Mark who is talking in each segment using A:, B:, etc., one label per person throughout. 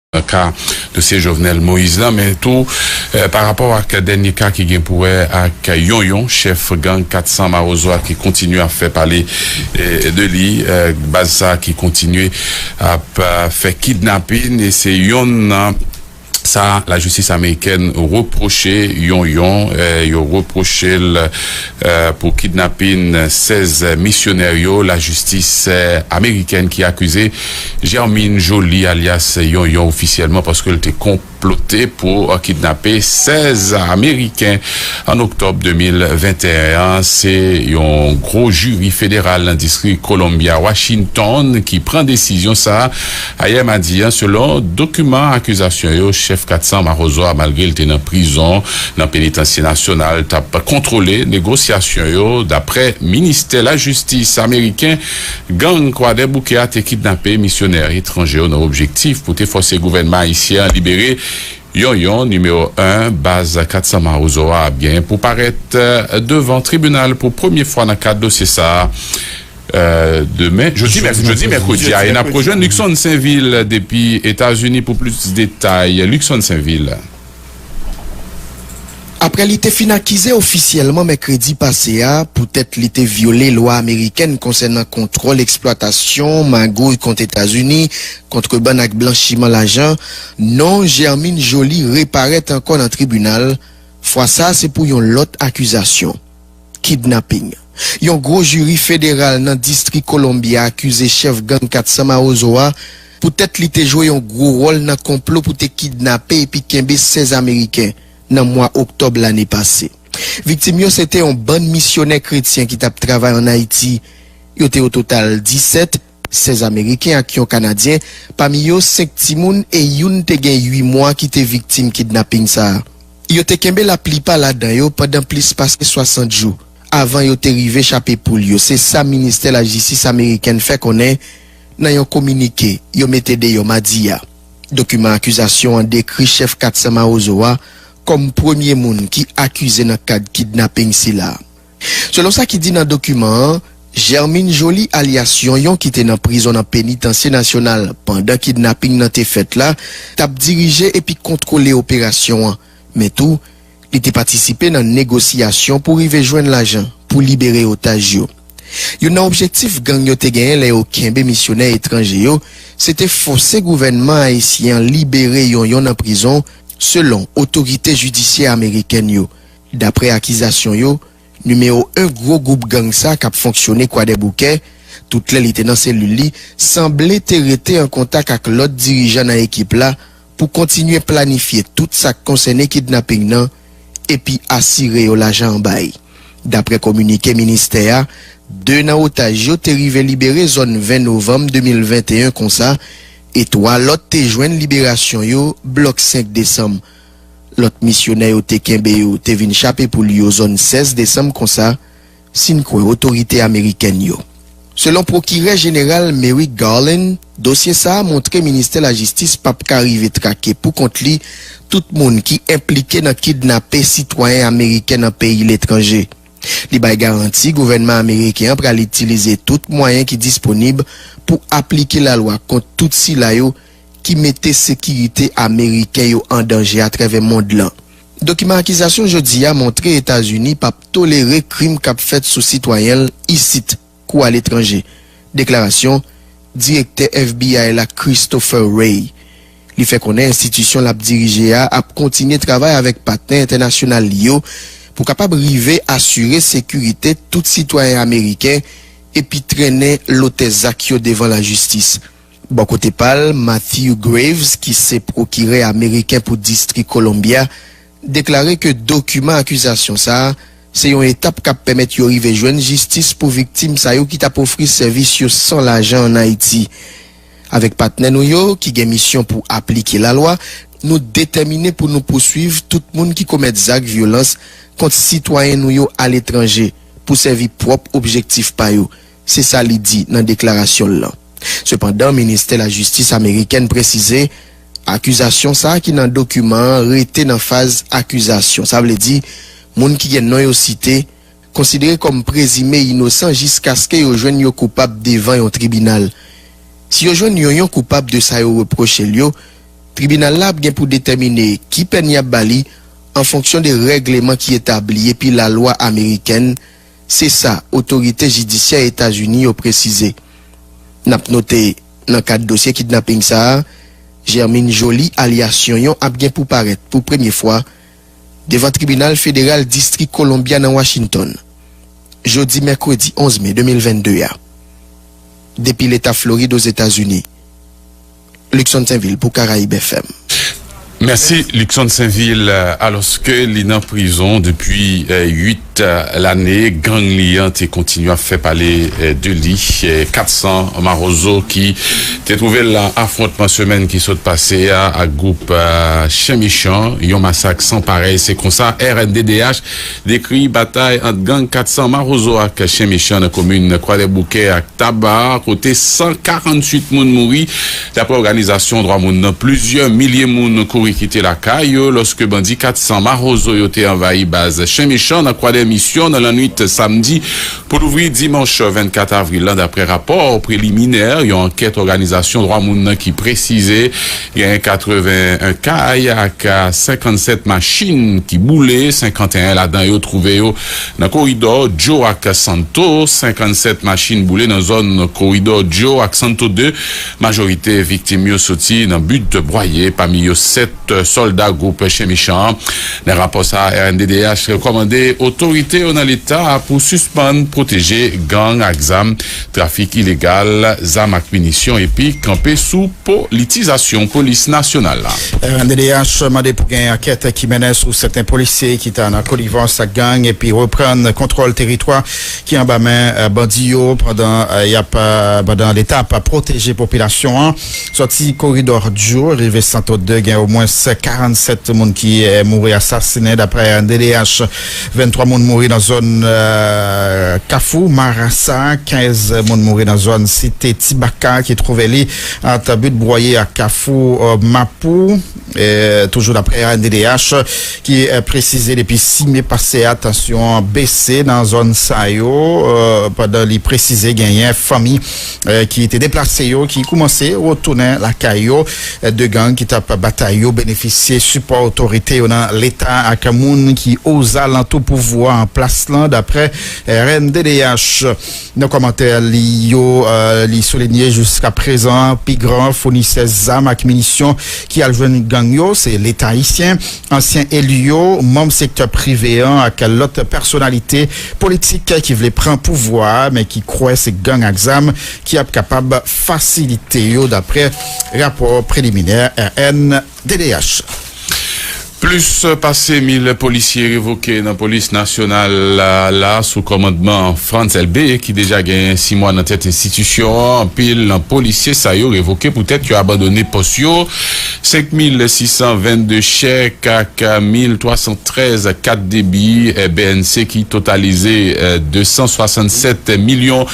A: nan ka dosye Jovenel Moïse lan men tou pa rapò ak dènye ka ki gen pou wè ak Yonyon chèf gang 400 mawozo a ki kontinye ap fè pale de li baz sa ki kontinye ap fè kidnapin e se yonn nan sa lajistis amerikèn repwoche Yonyon yo repwoche l pou kidnapin 16 misyonè yo lajistis amerikèn ki akize. Germine Joly alyas Yonyon ofisyèlman paske l te konplote pou kidnape 16 ameriken an oktòb 2021 an. Se yon gwo jiri federal nan distri Columbia, Washington ki pran desizyon sa a ayè madi an selon dokiman akizasyon yo. Chèf 400 mawozo a malgre l te nan prizon nan penitansye nasyonal t ap kontwole negosyasyon yo dapre ministè lajistis ameriken Gang Kwadèboukè a te kidnape misyonè etranje yo nan objektif pou te fòse gouvènman ayisyen an libere yon yon Nimewo 1 baz 400 Mawozo a ap genyen pou parèt devan tribinal pou premye fwa nan kad dosye sa a demen jodi mèkredi a e n ap rejwenn Luckson Sainville depi Etazini pou plis detay Luckson Sainville.
B: Aprè li te fin akize ofisyèlman mèkredi pase a poutèt li te vyole lwa amerikèn konsènan kontwòl eksplwatasyon, magouy kont Etazini, kontrebann ak blanchiman lajan, non Germine Joly reparèt ankò nan tribinal, fwa sa se pou yon lòt akizasyon. Kidnapping. Yon gwo jiri federal nan Distri Columbia akize chèf gang 400 Mawozo a poutèt li te jwe yon gwo wòl nan konplo pou te kidnape epi kenbe 16 Ameriken nan mwa Oktòb lane pase. Viktim yo se te yon bann misyonè kretyen ki t ap travay an Ayiti. Yo te ototal 17. 16 ameriken ak yon kanadyen, pami yo 5 timoun e youn te gen 8 mwa ki te viktim kidnaping sa a. Yo te kenbe laplipa ladan yo pandan plis pase 60 jou avan yo te rive chape poul yo, se sa ministè lajistis amerikèn fè konnen nan yon kominike yo mete deyò madi a. Dokiman akizasyon an dekri chèf 400 Mawozo a kòm premye moun ki akize nan kad kidnaping sila. Selon sa ki di nan dokiman an, Germine Joly alyas Yonyon ki te nan prizon nan Penitansye Nasyonal pandan kidnaping nan te fèt la, t ap dirije epi kontwole operasyon an, men tou, li te patisipe nan negosyasyon pou rive jwenn lajan pou libere otaj yo. Youn nan objektif gang yo te genyen lè yo kenbe misyonè etranje yo, se te fòse gouvènman ayisyen an libere Yonyon nan prizon, selon otorite jidisyè amerikèn yo. Daprè akizasyon yo, nimewo 1 gwo gwoup gang sa k ap fonksyone Kwadèboukè, tout lè li te nan selil li, sanble te rete an kontak ak lòt dirijan nan ekip la pou kontinye planifye tout sa k konsène kidnaping nan epi asire yo lajan an bay. Daprè kominike ministè a, 2 nan otaj yo te rive libere zòn 20 novanm 2021 konsa e 3 lòt te jwenn liberasyon yo blòk 5 desanm. Lòt misyonè yo te kenbe yo te vin chape pou l yo zòn 16 desanm konsa, si n kwè otorite amerikèn yo. Selon Pwokirè Jeneral Merrick Garland, dosye sa a montre Ministè Lajistis p ap ka rive trake pou kont li tout moun ki enplike nan kidnape sitwayen ameriken nan peyi letranje. Li bay garanti gouvènman ameriken an pral itilize tout mwayen ki disponib pou aplike lalwa kont tout sila yo ki mete sekirite ameriken yo an danje atrèvè mond lan. Dokiman akizasyon jodi a montre Etazini p ap tolere krim k ap fèt sou sitwayen l isit kou aletranje, deklarasyon Direktè FBI la Christopher Wray. Li fè konnen enstitisyon l ap dirije a ap kontinye travay avèk patnè entènasyonal li yo pou kapab rive asire sekirite tout sitwayen ameriken epi trennen lotè zak yo devan lajistis. Bò kote pa l, Matthew Graves, ki se pwokirè ameriken pou Distri Columbia, deklare ke dokiman akizasyon sa a se yon etap k ap pèmèt yo rive jwenn jistis pou viktim sa yo ki t ap ofri sèvis yo san lajan ann Ayiti. Avèk patnè nou yo ki gen misyon pou aplike lalwa, nou detèmine pou nou pouswiv tout moun ki komèt zak vyolans kont sitwayen nou yo aletranje pou sèvi pwòp objektif pa yo, se sa li di nan deklarasyon l lan. Sepandan, Ministè Lajistis amerikèn presize akizasyon sa ki nan dokiman an rete nan faz akizasyon, sa vle di moun ki gen non yo site konsidere kòm prezime inosan jiskaske yo jwenn yo koupab devan yon tribinal. Si yo jwenn yon yon koupab de sa yo repwoche l yo, tribinal la ap gen pou detèmine ki pèn y ap ba li an fonksyon de règleman ki etabli epi lalwa amerikèn, se sa otorite jidisyè Etazini yo presize. N ap note, nan kad dosye kidnaping sa a, Germine Joly alyas Yonyon ap gen pou parèt pou premye fwa devan tribinal federal distri Columbia nan Washington, jodi mèkredi 11 me 2022 a. Depi leta Florid Ozetazini, Luckson Sainvil pou Caraïbes FM. Mèsi
A: Luckson Sainvil, alòske li nan prizon depi 8 lane, gang li an te kontinye ap fè pale de li, 400 mawozo ki te twouve l lan afwontman semèn ki sot pase a ak gwoup chen mechan, yon masak san parèy, se konsa rnddh. Dekri batay ant gang 400 Mawozo ak Chen Mechan nan komin Kwadèboukè ak Taba kote 148 moun mouri. Daprè òganizasyon dwa moun nan, plizyè milye moun kouri kite lakay yo lòske bandi 400 Mawozo yo te anvayi baz Chen Mechan nan Kwadè Misyon nan lannwit samdi pou louvri dimanch 24 avril lan, daprè rapò preliminè yon ankèt òganizasyon dwa moun nan ki presize. Genyen 81 kay ak 57 machin ki boule, 51 ladan yo twouve yo nan koridò Djo ak Santo. 57 machin boule nan zòn koridò Djo ak Santo 2. Majorite viktim yo soti nan Bud Bwaye, pami yo 7 sòlda gwoup chen mechan an. Nan rapò sa a, rnddh rekòmande otorite yo nan leta a pou sispann pwoteje gang ak zam, trafik ilegal zam ak minisyon epi kanpe sou. Politizasyon Polis Nasyonal la. Rnddh
C: mande pou gen ankèt ki mennen sou sèten polisye ki ta nan konivans ak gang epi reprann kontwòl teritwa ki anba men bandi yo pandan yap pandan leta ap pwoteje popilasyon an. Sòti koridò Djo rive Santo 2 gen omwens 47 moun ki mouri asasinen daprè rnddh. 23 moun mouri nan zòn Kafou Marasa, 15 moun mouri nan zòn Site Ti Baka ki twouve li ant But Bwoye ak Kafou Mapou. Toujou daprè ANDDH ki presize depi 6 me pase a tansyon an bese nan zòn sa yo pandan li presize genyen fanmi ki te deplase yo ki koumanse retounen lakay yo. 2 gang ki t ap batay yo benefisye sipò otorite yo nan Leta ak moun ki ozalantou pouvwa an plas lan, daprè rnddh. Nan kòmantè li yo, li soulinye jiskaprezan pi gran founisè zam ak minisyon ki al jwenn gang yo se Leta ayisyen. ansyen eli yo, manm sektè prive an ak lòt pèsonalite politik ki vle pran pouvwa a men ki kwè se gang ak zam ki ap kapab fasilite yo, daprè rapò preliminè rnddh.
A: Plis pase 1000 polisye revoke nan polis nasyonal la sou kòmandman Frantz Elbé ki deja genyen 6 mwa nan tèt enstitisyon an. Anpil nan polisye sa yo revoke poutèt yo abandone pòs yo. 5622 chèk ak 1313 kat debi bnc ki totalize 267 milyon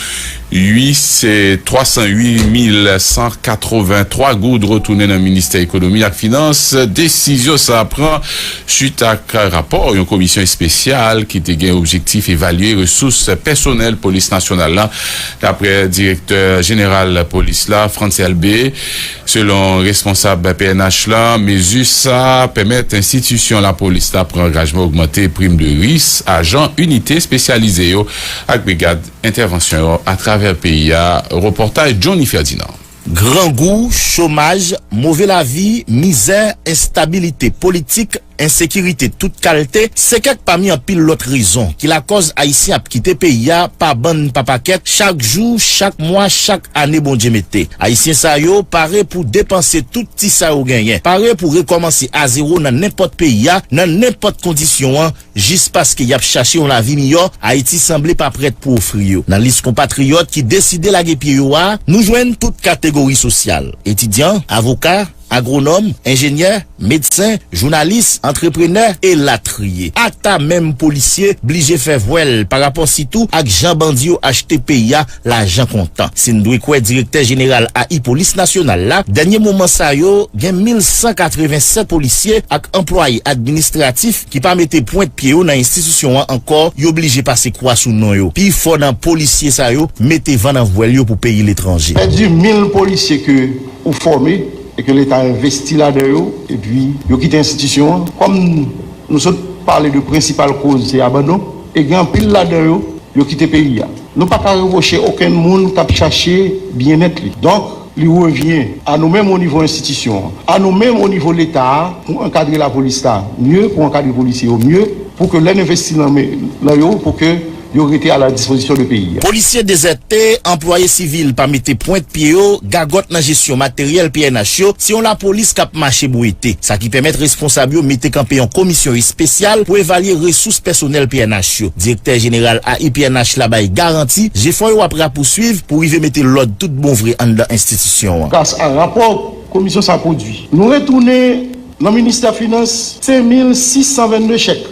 A: 308 mil 183 goud retounen nan Ministè Ekonomi ak Finans. Desizyon sa a pran suit ak rapò yon komisyon espesyal ki te gen objektif evalye resous pèsonèl Polis Nasyonal la, daprè Direktè Jeneral Polis la, Frantz Elbé. Selon responsab pnh la, mezi sa a pèmèt enstitisyon lapolis la pran angajman ogmante prim de ris ajan inite espesyalize yo ak brigad entèvansyon yo atravè peyi a, repòtaj Johnny Ferdinand. Grangou,
D: chomaj, move lavi, mizè, enstabilite politik, Ensekirite tout kalte se kèk pami anpil lòt rezon ki lakòz Ayisyen ap kite peyi a pa bann pa pakèt chak jou, chak mwa, chak ane Bondye mete. Ayisyen sa yo pare pou depanse tout ti sa yo genyen, pare pou rekòmanse azewo nan nenpòt peyi a, nan nenpòt kondisyon an, jis paske y ap chache yon lavi miyò Ayiti sanble pa prèt pou ofri yo. Nan lis konpatriyòt ki deside lage pye yo a, nou jwenn tout kategori sosyal, etidyan, avoka, Agwonòm, enjenyè, medsen, jounalis, antreprenè, elatriye. Ata menm polisye blije fè vwè l pa rapò sitou ak jan bandi yo achte peyi a lajan kontan. Si n dwe kwè direktè jeneral AI Polis Nasyonal la, dènye moman sa yo gen 1.187 polisye ak anplwaye administratif ki pa mete pwent pye yo nan enstitisyon an ankò, yo blije pase kwa sou non yo. Pi fò nan polisye sa yo mete van nan
E: vwèl yo
D: pou
E: peyi
D: letranje. Pèdi
E: 1.000 polisye ke ou
D: fòme e ke
E: leta envesti ladan yo epi yo kite enstitisyon an kòm nou sot pale de prensipal koz se abandon e gen anpil ladan yo yo kite peyi a nou pa ka repwoche okenn moun k ap chache byennèt li donk li revyen a nou menm o nivo enstitisyon an a nou menm o nivo leta a pou ankadre lapolis la mye pou ankadre polisye yo mye pou ke lè n envesti nan yo pou ke. Yo rete a la dispozisyon de peyi a. Polisye dezète,
D: anplwaye sivil pa mete pwent pye yo, gagòt nan jesyon materyèl pnh yo, se yon lapolis k ap mache bwete. Sa ki pèmèt responsab yo mete kanpe yon komisyon espesyal pou evalye resous pèsonèl pnh yo. Direktè jeneral AI pnh la bay garanti, jefò yo ap rapouswiv pou rive mete lòd tout bon vre anndan enstitisyon an. Gras a rapò
E: komisyon sa pwodui, nou retounen nan ministè finans 5,622 chèk.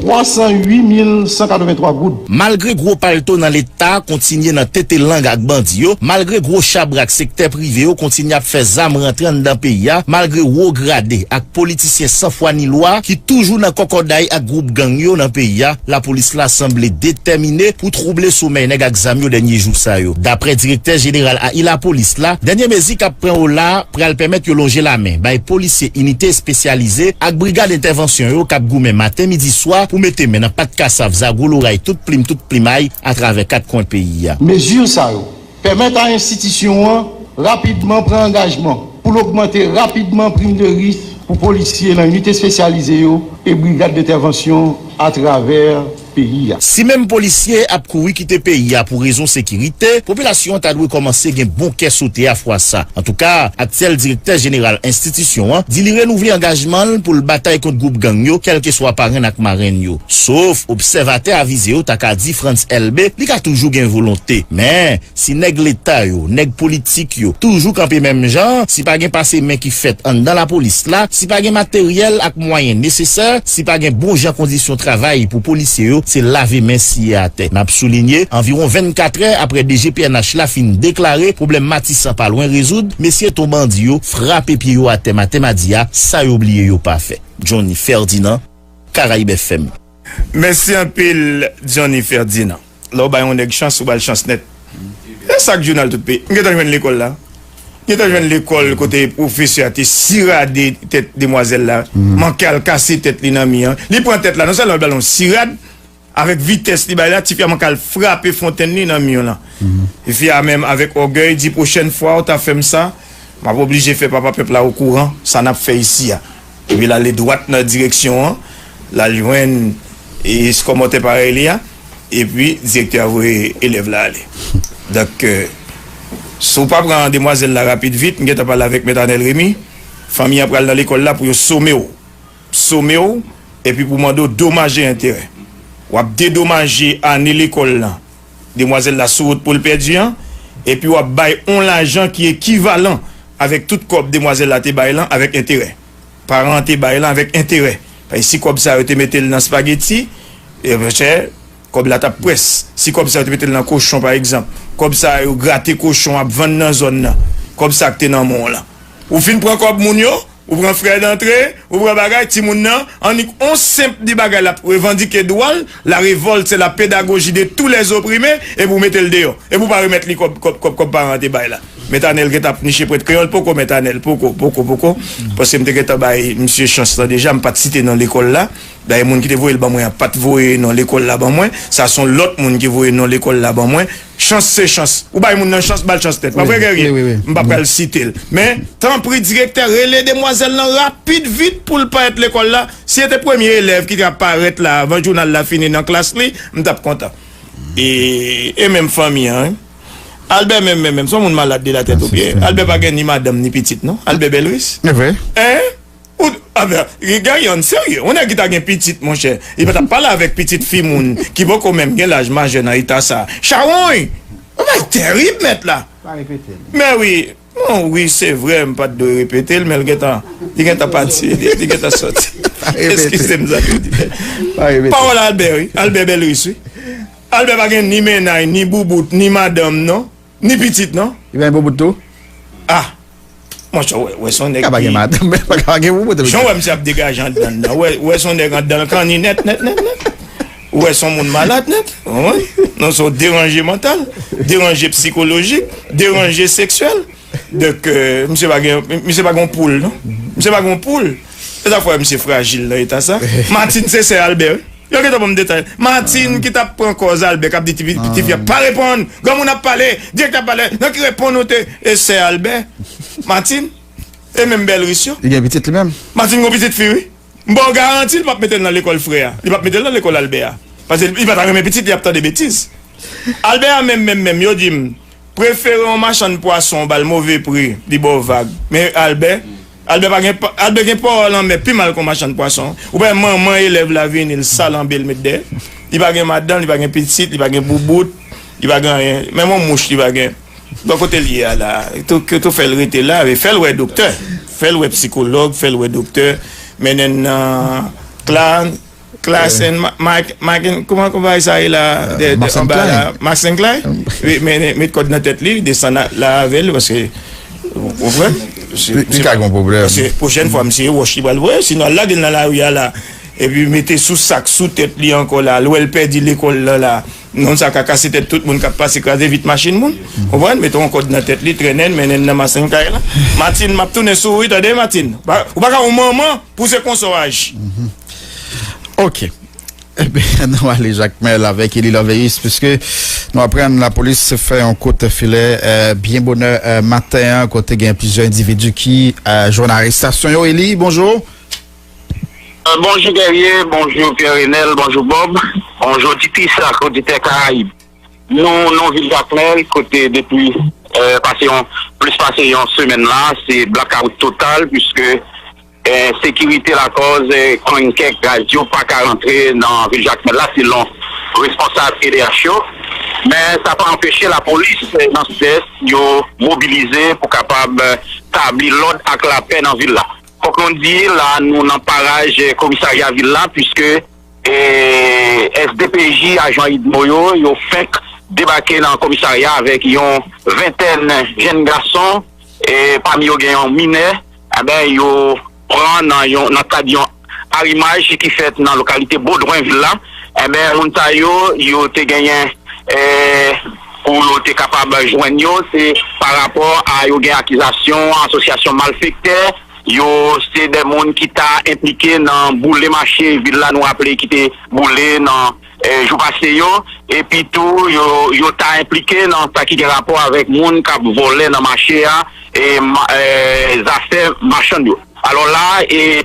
E: 308183 goud. Malgre gwo palto
D: nan leta kontinye nan tete lang ak bandi yo, malgre gwo chabrak sektè prive yo kontinye ap fè zam rantre anndan peyi a, malgre wo grade ak politisyen san fwa ni lwa ki toujou nan kòkòday ak gwoup gang yo nan peyi a, lapolis la sanble detèmine pou twouble somèy nèg ak zam yo dènye jou sa yo. Daprè direktè jeneral ahi lapolis la, dènye mezi k ap pran yo la, pral pèmèt yo lonje lamen bay polisye inite espesyalize ak brigad entèvansyon yo k ap goumen maten midi swa pou mete men nan pat kasav zagwo loray tout plim tout plimay atravè kat kwen peyi a. Mezi sa yo
E: pèmèt a enstitisyon an rapidman pran angajman pou l ogmante rapidman prim de ris pou polisye nan inite espesyalize yo e brigad dentèvansyon atravè. peyi a. Si menm polisye
D: ap kouri kite peyi a pou rezon sekirite, popilasyon an ta dwe kòmanse gen bon kè sote a fwa sa. Antouka, aktyèl direktè jeneral enstitisyon an di li renouvle angajman l pou l batay kont gwoup gang yo kèlkeswa parenn ak marenn yo. Sof, obsèvatè avize yo ta ka di Frantz Elbé li ka toujou gen volonte. Men. Si nèg leta yo, nèg politik yo toujou kanpe menm jan, si pa gen pase men ki fèt anndan lapolis la, si pa gen materyèl ak mwayen nesesè, si pa gen bon jan kondisyon travay pou polisye yo, se lave men siye atè. N ap soulinye, anviwon 24 trè aprè DG pnh la fin deklare pwoblèm Matisan pa lwen rezoud, mesye ton bandi yo frape pye yo atè maten madi a, sa yo bliye yo pa fè. Johnny Ferdinand, Caraibes FM. Mèsi
F: anpil Johnny Ferdinand. Lè w bay yon nèg chans, ou ba l chans nèt. E sa k jounal tout peyi? M gentan jwenn lekòl la. M gentan jwenn lekòl kote pwofesè a te sirade tèt demwazèl la, manke al kase tèt li nan mi an. Li pran tèt la, non sèlman li ba l yon sirad, avèk vitès li bay la, tifi a manke al frape fontenn li nan mi an lan. Tifi a menm avèk ògèy di, pwochèn fwa ou ta fè m sa, m ap oblije fè papa pèp la okouran sa n ap fè isi a. Epi l ale dwat nan direksyon an, l al jwenn eskòmòtè parèy li a, epi direktè a voye elèv la ale. Donk, si w pa pran demwazèl la rapid vit, m gen tan pale avèk Mèt Anèl Remi, fanmi an pral nan lekòl la pou yo some w, some w, epi pou mande w domaj e enterè. W ap dedomaje ane lekòl lan demwazèl la sou wout pou l pèdi an, epi w ap bay yon lajan ki ekivalan avèk tout kòb demwazèl la te bay lan avèk enterè. Paran an te bay lan avèk enterè. Paske si kòb sa yo te mete l nan spageti, chè, kòb la t ap pwès. Si kòb sa yo te mete l nan kochon, pa egzanp, kòb sa yo grate kochon ap vann nan zòn nan, kòb sa k te nan men w lan. Ou fin pran kòb moun yo. Ou pran frè dantre, ou pran bagay timoun nan, annik on senp di bagay l ap revandike dwa l, la revolt se la pedagoji de tou lè zoprime, epi ou mete l deyò, epi ou pa remèt li kòb kòb kòb kòb paran an te bay la. Mèt Anèl gentan ap niche prèt kreyòl, poko mèt Anèl, poko, poko, poko, paske m te gentan bay misye chans lan deja, m pa t site non lekòl la, dayè moun ki te voye l ban mwen an pa t voye non lekòl la ban mwen, sa s on lòt moun ki voye non lekòl la ban mwen. Chans se chans. Ou bay moun nan chans, ba l chans nèt. Pa vre, Guerrier? M pa pral site l. Men, tanpri direktè, rele demwazèl lan rapid vit pou l parèt lekòl la. Si se te premye elèv ki ta parèt la avan jounal la fini nan klas li, m t ap kontan. E, e menm fanmi an, wi. Albè menm menm menm, s on moun malad de latèt o pye. Albè pa gen ni madanm ni pitit non. Albè Belris? E vre. Hein? Gade yon serye, yon nèg ki ta gen pitit monchè, li pa t ap pale avèk pitit fi moun ki poko menm gen laj majè nan eta sa a. Chawony! Bagay terib mèt la! Mèwi, bon wi se vre m pa t dwe repete l men l gentan, li gentan pati, li gentan soti. Eskize m zanmi m. Pawòl Albè wi, Albè Belris wi. Albè pa gen ni mennay, ni boubout, ni madanm non. Ni pitit non. Li pa gen boubout tou?
C: Ah!
F: Mon chè, ou wè son nèg ki. Ka pa gen madanm, men pa ka pa
C: gen boubout epi. Jan ou wè misye ap degaje
F: andan l la, ou wè son nèg andan l kanni nèt nèt nèt nèt. Ou wè son moun malad nèt, ou konprann? Non son deranje mantal, deranje psikolojik, deranje seksyèl. Donk, misye pa gen, misye pa gen yon poul non. Misye pa gen yon poul. Se sa k fè wè misye frajil nan eta sa. Martine se sè Albert wi. Yo gentan banm detay. Martine ki tap pran kòz Albert kap di ti fi a pa reponn, granmoun ap pale, direktè ap pale, nan ki reponn ou te e sè Albert? Martine e menm bèl ris yo. Li gen pitit li menm?
C: Martine gon pitit fi wi.
F: M baw garanti li pap metel nan lekòl frè a, li pap metel nan lekòl Albert a. Pase li pata renmen pitit li ap tande betiz. Albert a menm menm menm yo dim. Prefere yon machann pwason ou ba l move pri, li ba w vag. Men Albè, Albè pa gen, Albè gen pawa lanmè pi mal ke yon machann pwason. Ou pa wè manman elèv la vini, l sal anbe l met dèyè. Li pa gen madanm, li pa gen pitit, li pa gen boubout, li pa gen anyen. Menm yon mouch li pa gen. Bon kote l ye a la a? Yo tou fè l rete la a. Fè l wè doktè, fè l wè psikològ, fè l wè doktè, mennen l nan kla. Klassen Macken, kouman konpay sa rela anba la, Massen Klay, men met kòd nan tèt li, desann la avè l, paske, ou konprann, li ka gen
C: pwoblèm, paske pwochèn fwa m se
F: wòch li pral voye, sinon al lage l nan lari a la, epi mete sou sak sou tèt li ankò la, al wè l pèdi lekòl lan la, non sa ka kase tèt tout moun k ap pase, kraze vit machin moun, ou konprann, mete yon kòd nan tèt li, trennen l, mennen l nan Massen Klay la, Matin, m ap tounen sou ou wi, tande Matin, ou pa ka yon manman pou w se konsa w aji.
C: Ok. Nou ale Jakmèl avèk Eli Lòveyis piske nou aprann lapolis fè yon kout filè byen bonè maten an kote gen plizyè endividi ki jwenn arestasyon yo. Eli, bonjou.
G: Bonjou Guerrier, bonjou Pierre Renel, bonjou Bob, bonjou Tipis ak oditè Karayib. Nou nan vil Jakmèl kote depi plis pase yon semèn la se blakawout total piske. Ensekirite lakòz kònn kèk radyo pa ka rantre nan vil Jakmèl la selon responsab edh yo, men sa pa anpeche lapolis nan sidès yo mobilize pou kapab tabli lòd ak lapè nan vil la. Fòk nou di la nou nan paraj komisarya vil la puiske sdpj ajan udmo yo yo fenk debake nan komisarya avèk yon ventèn jenn gason pami yo gen yon minè. Anben, yo pran nan yon nan kad yon arimaj ki fèt nan lokalite Bodwen vil la. Anben, moun sa yo, yo te genyen pou yo te kapab jwenn yo, se pa rapò a yo gen akizasyon asosyasyon malfektè, yo se de moun ki ta enplike nan boule mache vil la, nou raple ki te boule nan jou pase yo, epi tou yo ta enplike nan sa ki gen rapò avèk moun k ap vòlè nan mache a, zafè machann yo. Alò la,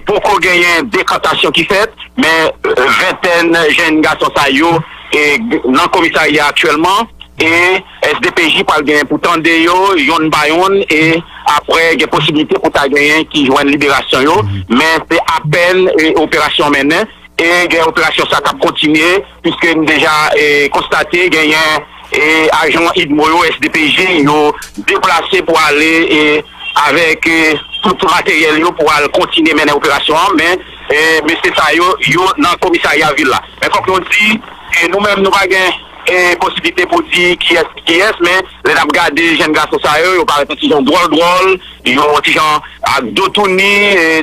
G: poko genyen dekantasyon ki fèt, men ventèn jenn gason sa yo nan komisarya a aktyèlman, e SDPJ pral genyen pou tande yo yonn pa yonn, e aprè gen posiblite pou ta genyen ki jwenn liberasyon yo, men se apèn operasyon an mennen. E gen operasyon sa kap kontinye piske n deja konstate genyen ajan udmo yo, SDPJ, yo deplase pou ale avèk tout materyèl yo pou al kontinye mennen operasyon an men mesye sa yo, yo nan komisarya vil la. Men fòk nou di nou menm nou pa gen posiblite pou di kiyès ki kiyès men lè nap gade jenn gason sa yo, yo parèt yon ti jan dwòl dwòl, yon ti jan ak do touni,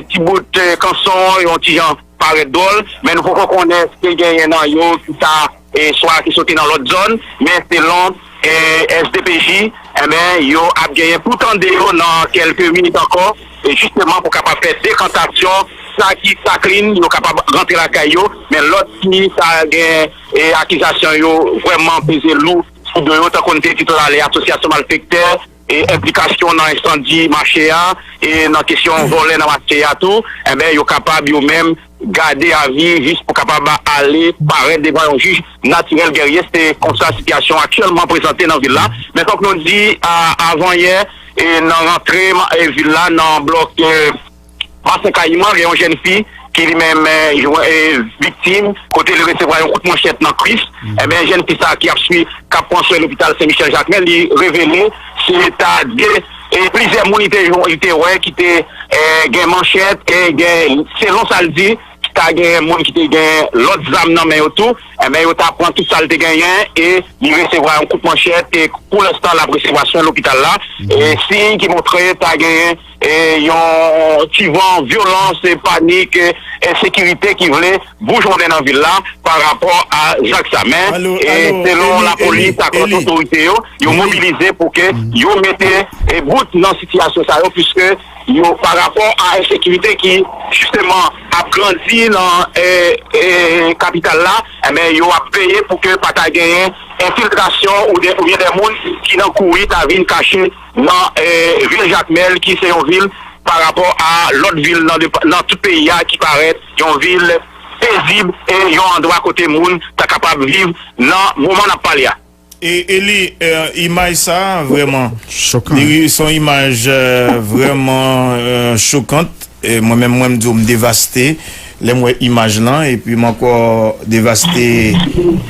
G: ti bout kanson, yon ti jan. parèt dwòl, men nou poko konnen si te genyen nan yo ki sa swa ki soti nan lòt zòn, men selon SDPJ, enben yo ap genyen pou tande yo nan kèlke minit ankò, jisteman pou kapab fè dekantasyon sa ki sa klin yo kapab rantre lakay yo, men lòt ki sa gen akizasyon yo vrèman peze lou sou do yo, tankou n te di tout alè asosyasyon malfektè, enplikasyon nan ensandi mache a e nan kesyon vòlè nan mache a tou, enben yo kapab yo menm gade avi jis pou kapab ale parèt devan yon jij natirèl Guerrier. Se konsa sitiyasyon an aktyèlman prezante nan vil la. Men fòk nou di, avan yè, nan rantre vil la nan blòk. Bassin Kayiman gen yon jèn fi ki li menm viktim kote li resevwa yon kout manchèt nan kwis, enben jèn fi sa ki ap swi kap pran swen lopital Sen Michel Jakmèl li revele se ta de plizyè moun li te wè ki te gen manchèt e gen selon sa l di ta gen moun ki te gen lòt zam nan men yo tou, enben yo ta pran tout sa l te genyen e li resevwa yon kout manchèt e pou lenstan lap resevwa swen lopital la e siy ki montre ta gen. Yon ti van vyolans, panik, ensekirite ki vle boujonnen nan vil la pa rapò a zak sa. Men, selon lapolis ak lòt otorite yo, yo mobilize pou ke yo mete bout nan sitiyasyon sa yo puiske yo pa rapò a ensekirite ki jisteman ap grandi nan kapital la, enben yo ap veye pou ke pa ta genyen enfiltrasyon oubyen de moun ki nan kouri ta vin kache. Nan vil Jakmèl ki se yon vil pa rapò a lòt vil nan tout peyi a ki parèt yon vil pezib e yon andwa kote moun ta kapab viv nan moman n ap pale a. Eli,
F: Imaj sa a vrèman chokan. Li se
C: yon imaj
F: vrèman chokan. Mwen menm mwen di w m devaste lè m wè imaj lan epi m ankò devaste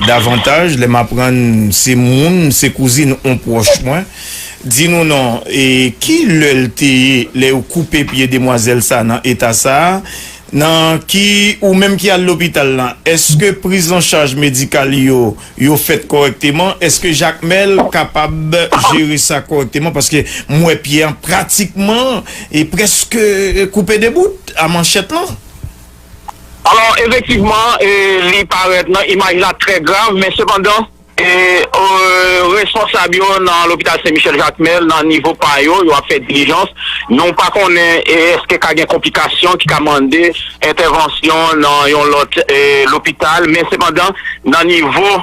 F: davantaj lè m aprann se moun, se kouzin yon pwòch mwen. Di nou non, e ki lè l te ye lè yo koupe pye demwazèl sa nan eta sa? Nan ki ou menm ki al lopital lan, èske priz an chaj medikal yo, yo fèt kòrèkteman? Èske Jakmèl kapab jere sa kòrèkteman? Paske m wè pye an pratikman e prèske koupe de bout a manchèt lan.
G: Alò, efektivman, li parèt nan imaj la trè grav, men sepandan. Responsab yo nan lopital Sen Michel Jakmèl nan nivo pa yo, yo ap fè dilijans, nou pa konnen eske ka gen konplikasyon ki ka mande entèvansyon nan yon lòt lopital men sepandan nan nivo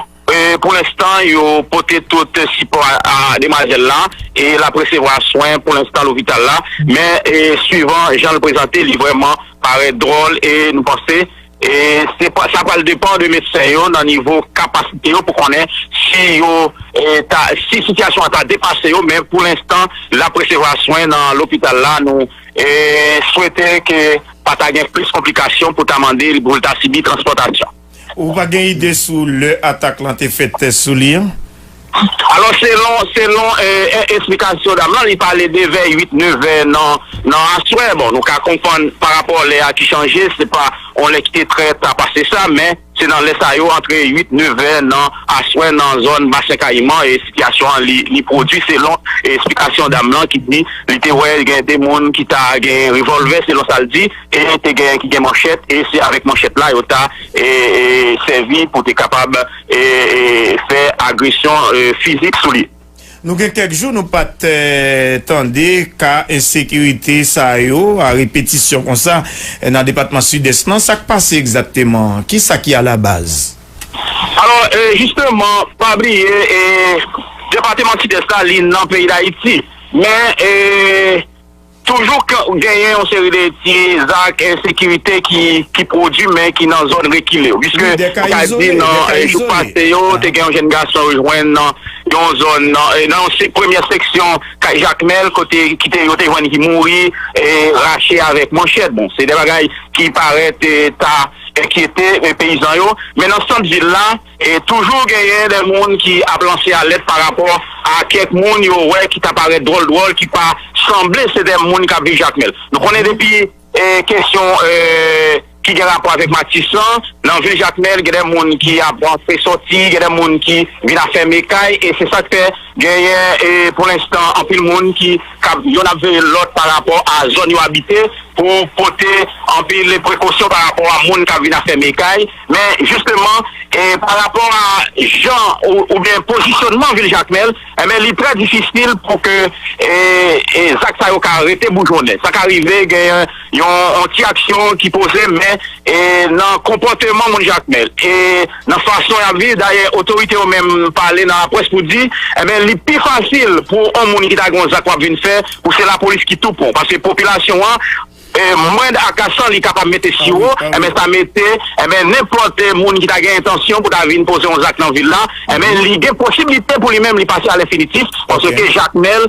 G: pou lenstan yo pote tout sipò a demwazèl la e l ap resevwa swen pou lenstan lopital la men swivan jan l prezante li vrèman parèt dwòl e nou panse Sa pral depan de medsen yo nan nivo kapasite yo pou konnen si yo ta, si sitiyasyon an ta depase yo men pou lenstan l ap resevwa swen nan lopital la, nou swete ke pa ta gen plis konplikasyon pou ta mande l pou l ta sibi transpòtasyon. Ou pa gen
F: ide sou lè atak lan te fèt sou li an? Alò
G: selon selon esplikasyon dam lan li pale de vè 8 9 vè nan nan aswè bon nou ka konprann pa rapò lè a ki chanje se pa yon lè ki te trè ta pase sa men se nan lè sa yo antre 8 9 vè nan aswè nan zòn basen kayiman e sitiyasyon an li li pwodui selon esplikasyon dam lan ki di li te wè gen 2 moun ki ta gen revòlvè selon sa l di e te gen ki gen manchèt e se avèk manchèt la yo ta e e sèvi pou te kapab. fè agresyon fizik sou li. Nou gen kèk jou
F: nou pa t tande ka ensekirite sa yo a repetisyon konsa nan depatman Sidès lan. Sa k pase egzakteman? Ki sa ki alabaz? Alò,
G: jisteman, pa bliye depateman Sidès la li nan peyi Dayiti men. Toujou k genyen yon seri de ti zak ensekirite ki pwodui men ki nan zòn rekile. Piske nou ka di nan jou pase yo te gen yon jenn gason yo jwenn nan yon zòn nan yon premyè seksyon kay Jakmèl kote yo te jwenn li mouri rache avèk manchèt. Bon se de bagay ki parèt ta enkyete peyizan yo men nan sant vil la E toujou genyen de moun ki ap lanse alèt pa rapò a kèk moun yo wè ki ta parèt dwòl dwòl, ki pa sanble se de moun k ap viv Jakmèl. Nou konnen depi kesyon ki gen rapò avèk Matis lan, nan vil Jakmèl gen de moun ki ap rantre sòti, gen de moun ki vin afème kay e se sa k fè genyen pou lenstan anpil moun ki yonn ap veye lòt pa rapò a zòn yo abite pou pote anpil prekosyon pa rapò a moun k ap vin afème kay. Men jisteman pa rapò a jan oubyen pozisyonman vil Jakmèl enben li trè difisil pou ke zak sa yo ka rete boujonnen. Sa ka rive gen yon ti aksyon ki poze men nan konpòteman moun Jakmèl e nan fason y ap viv dayè otorite yo menm pale nan laprès pou di enben li pi fasil pou on moun ki ta gen yon zak pou ap vin fè pou se lapolis ki tou pran w paske popilasyon an Mwen dakr san li kapab mete siwo enben sa mete enben nenpòt moun ki ta gen entansyon pou ta vin poze yon zak nan vil la enben li gen posiblite pou li menm li pase alenfinitif paske jakmèl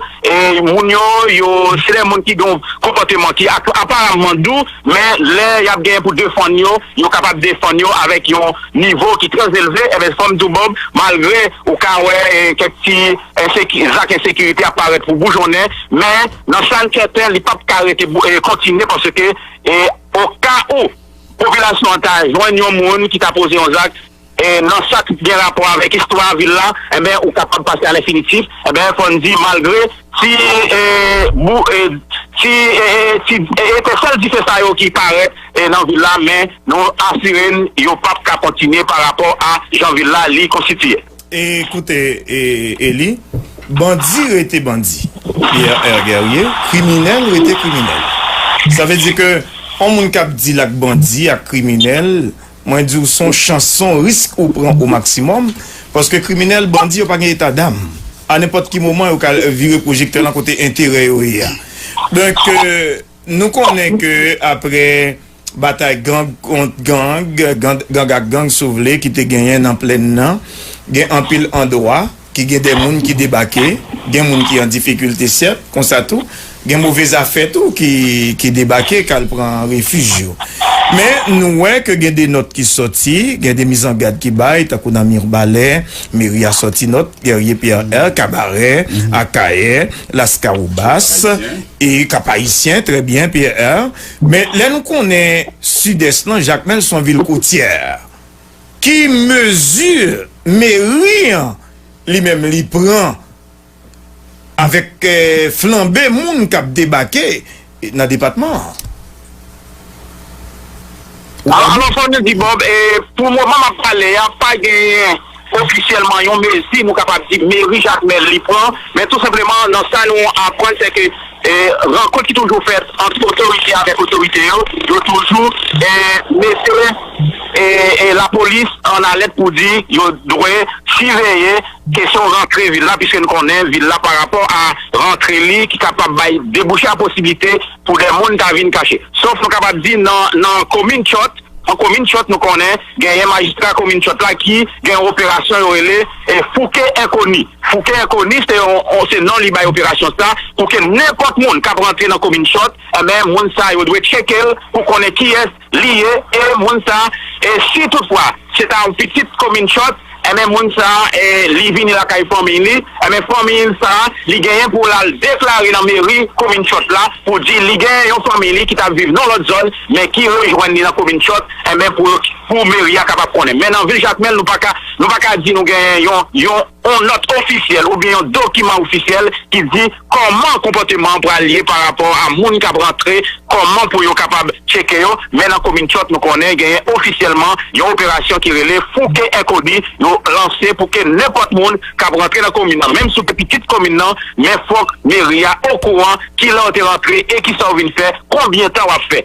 G: moun yo yo se de moun ki gen yon konpòteman ki aparamman dou men lè y ap gen pou defann yo yo kapab defann yo avèk yon nivo ki trèzelve enben fò m di w Bob malgre ou ka wè kèk ti. zak ensekirite a parèt pou boujonnen, men nan sa n sèten li pap ka rete kontinye paske okawou popilasyon an ta jwenn yon moun ki ta poze yon zak nan sa k gen rapò avèk istwa vil la enben ou kapab pase alenfinitif enben fò n di malgre ti etesèl dife sa yo ki parèt nan vil la men nou asire n yo pap ka kontinye parapò a jan vil la li konstitiye. E koute
F: Eli, bandi rete bandi, Pierre R. Guerrier, kriminèl rete kriminèl. Sa vle di ke yon moun kap di lak bandi, ak kriminèl, mwen di w son chans, son risk ou pran o maksimòm, paske kriminèl, bandi yo pa gen eta dam. A nenpòt ki moman yo ka vire pwojektè lan kote enterè yo ye a. Donk. Nou konnen ke apre batay gang kont gang, gang ak gang si w vle, ki te genyen nan plèn nan, gen anpil andwa ki gen de moun ki debake, gen moun ki an difikilte sèt, konsa tou gen move zafè tou ki debake k al pran refij yo. Men nou wè ke gen de nòt ki sòti, gen de mizangad ki bay, tankou nan Mirbalè, meri a sòti nòt, Guerrier Pierre R, Kabarè, Akayè, Laskawobas. E kap ayisyen trè byen PR. Men lè nou konnen Sidès lan Jakmèl son vil kotyè. Ki mezi meri an li menm li pran avèk flanbe moun kap debake nan depatman an?
G: Alon Sony di Bob, Pou moman m ap pale a, pa genyen ofisyèlman yon mezi nou kapab di meri Jakmèl li pran, men tou senpleman nan sa nou aprann se ke rankont ki toujou fèt ant otorite avèk otorite yo, yo toujou mete lapolis an alèt pou di yo dwe siveye. Kesyon rantre vil la, piske n konnen vil la parapò a rantre li ki kapab bay debouche a posiblite pou de moun ta vin kache. Sof nou kapab di nan komin Tchòt, nan komin Tchòt nou konnen genyen majistra komin Tchòt la ki gen yon operasyon yo rele fouke enkoni. Fouke enkoni se yon se non li bay operasyon sa pou ke nenpòt moun k ap rantre nan komin Tchòt, enben moun sa yo dwe tcheke l pou konnen kiyès. li ye e moun sa e si tout fwa se ta yon pitit komin chòt enben moun sa e li vini lakay fanmiy li enben fanmiy li sa li genyen pou l al deklare nan meri komin chòt la pou di li genyen yon fanmiy li ki t ap viv nan lòt zòn men ki rejwenn li nan komin chòt enben pou yo pou meri a kapab konnen men nan vil jakmèl nou pa ka nou pa ka di nou genyen yon yon yon nòt ofisyèl oubyen yon dokiman ofisyèl ki di. Kòman konpòteman an pral ye parapò a moun k ap rantre, kòman pou yo kapab tcheke yo, men nan komin Tyòt nou konnen genyen ofisyèlman yon operasyon ki rele Fouke Enkoni yo lanse pou ke nenpòt moun k ap rantre nan komin nan menm si w te pitit komin nan men fòk meri a okouran kilè w te rantre e kisa w vin fè, konbyen tan w ap fè.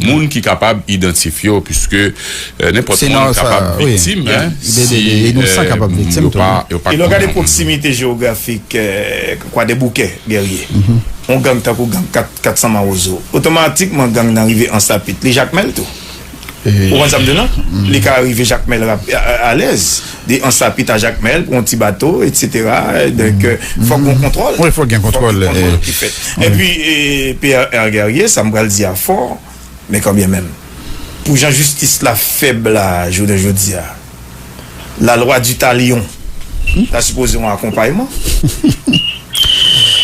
A: Moun ki kapab idantifye w, piske nenpòt moun kapab viktim si yo
C: pa konnen moun nan.
F: Pwoksimite jewografik Kwadèboukè, Gèrye, yon gang tankou gang 400 Mawozo, otomatikman gang nan rive Ansapit. Li Jakmèl tou. Ou konn sa m di w non? Li ka rive Jakmèl alèz. De Ansa Pit a Jakmèl pou yon ti bato etsetera donk fòk gon kontwòl. Wi fòk gen kontwòl. Fòk gen kontwòl
C: ki fèt. Enpi
F: PRR Guerrier sa m pral di a fò men kanbyen menm pou jan jistis la fèb la jounen jodi a la lwa di talion ta sipoze yon akonpayman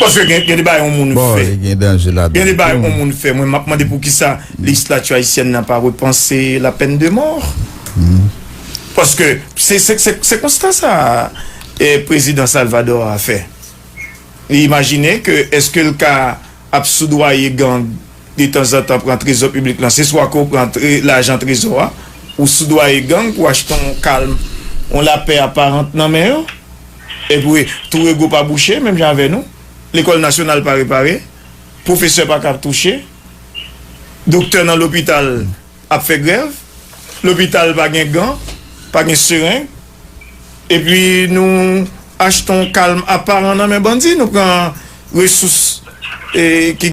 F: paske gen gen de bagay yon moun fè gen de bagay yon moun fè mwen m ap mande pou kisa lejislati ayisyèn nan pa repanse lapèn de mò Paske se konsta sa prezidan Salvador a fè. Li imajine ke eske l ka ap soudwaye gang detanzantan pran trezò piblik lan. Se swa ke w pran lajan trezò a, ou soudwaye gang pou achte yon kalm, yon lapè aparant nan men yo. Epi tou rego pa bouche menm jan avè nou. Lekòl nasyonal pa repare. Pwofesè pa ka touche. Doktè nan lopital. ap fè grèv, lopital pa gen gan, pa gen sereng, epi nou achte yon kalm aparan nan men bandi, nou pran resous ki.